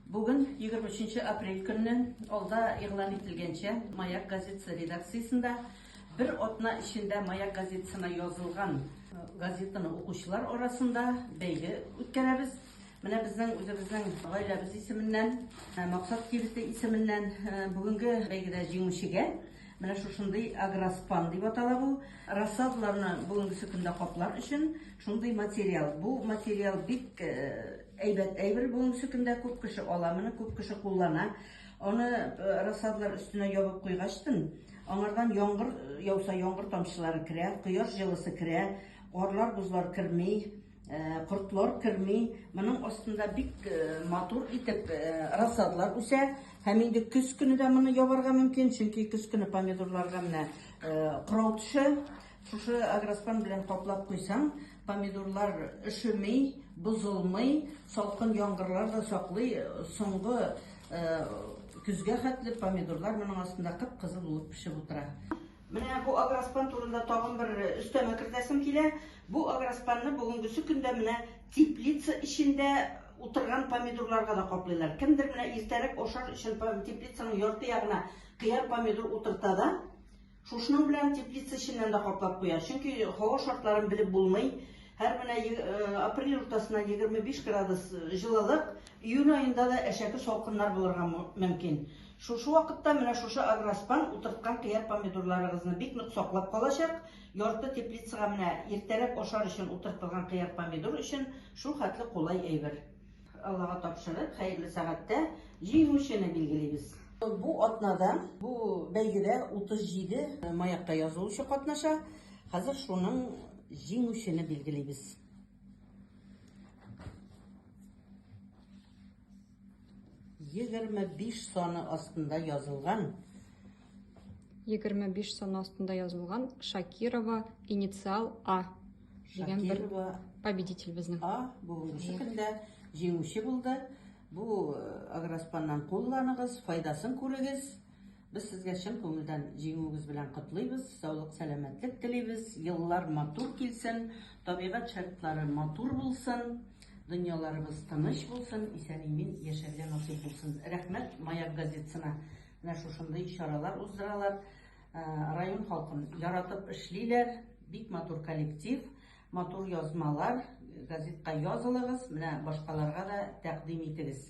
Бүген 23 апрель көнне алда игълан ителгәнчә Маяк газетасы редакциясендә бер атна эчендә Маяк газетасына язылган э, газетаны укучылар арасында бәйге үткәрәбез. Менә безнең үзебезнең гаиләбез исеменнән, э, Максат кибете исеменнән э, бүгенге бәйгедә җиңүчегә Менә шушындый агроспан дип атала бу. Рассадаларны бүгенгесе көндә каплар өчен шундый материал. Бу материал бик әйбәт әйбер бүгенгесе көндә күп кеше ала, моны күп кеше куллана. Аны рассадалар өстенә ябып куйгачтын, аңардан яңгыр яуса, яңгыр тамчылары керә, кояш җылысы керә, карлар, бозлар керми. Кортлар керми. Моның астында бик матур итеп рассадлар үсә. Һәм инде көз көне дә моны ябарга мөмкин, чөнки көз көне помидорларга менә кырау төшә. Шушы агроспан белән каплап куйсаң, помидорлар өшеми, бозылмый, салкын яңгырлар да саклый. Соңгы көзгә хәтле помидорлар моның астында кып-кызыл булып пешеп утыра. Менә бу агроспан турында тагын бер өстәмә кертәсем килә. Бу агроспанны бүгенгесе көндә менә теплица эчендә утырган помидорларга да каплыйлар. Кемдер менә иртәрәк ашар өчен теплицаның ярты ягына кыяр помидор утырта да, шушның белән теплица эченнән дә каплап куя. Чөнки һава шартларын белеп булмый. Һәр менә э, апрель уртасына 25 градус э, җылылык, июль аенда да әшәке салкыннар булырга мөмкин. Шушы вакытта менә шушы агроспан утырткан кыяр помидорларыгызны бик нык саклап калачак. Ярты теплицага менә иртәрәк ашар өчен утыртылган кыяр помидор өчен шул хәтле кулай әйбер. Аллага тапшырып, хәерле сәгатьтә җиңүчене билгелибез. Бу атнада, бу бәйгедә 37 маякта язылучы катнаша. Хәзер шуның җиңүчене билгелибез. 25 саны астында язылган. 25 саны астында язылган Шакирова инициал А дигән бер победитель безнең. А бүгенге көндә җиңүче булды. Бу э, агроспаннан кулланыгыз, файдасын күрегез. Без сезгә чын күңелдән җиңүегез белән котлыйбыз, саулык, сәламәтлек телибез, еллар матур килсен, табигать шартлары матур булсын, дөньяларыбыз тыныч булсын, исән-имин яшәргә насыйп булсын. Рәхмәт Маяк газетсына. Менә шушындый чаралар уздыралар. Э, район халкын яратып эшлиләр. Бик матур коллектив, матур язмалар. Газетка язылыгыз, менә башкаларга да тәкъдим итегез.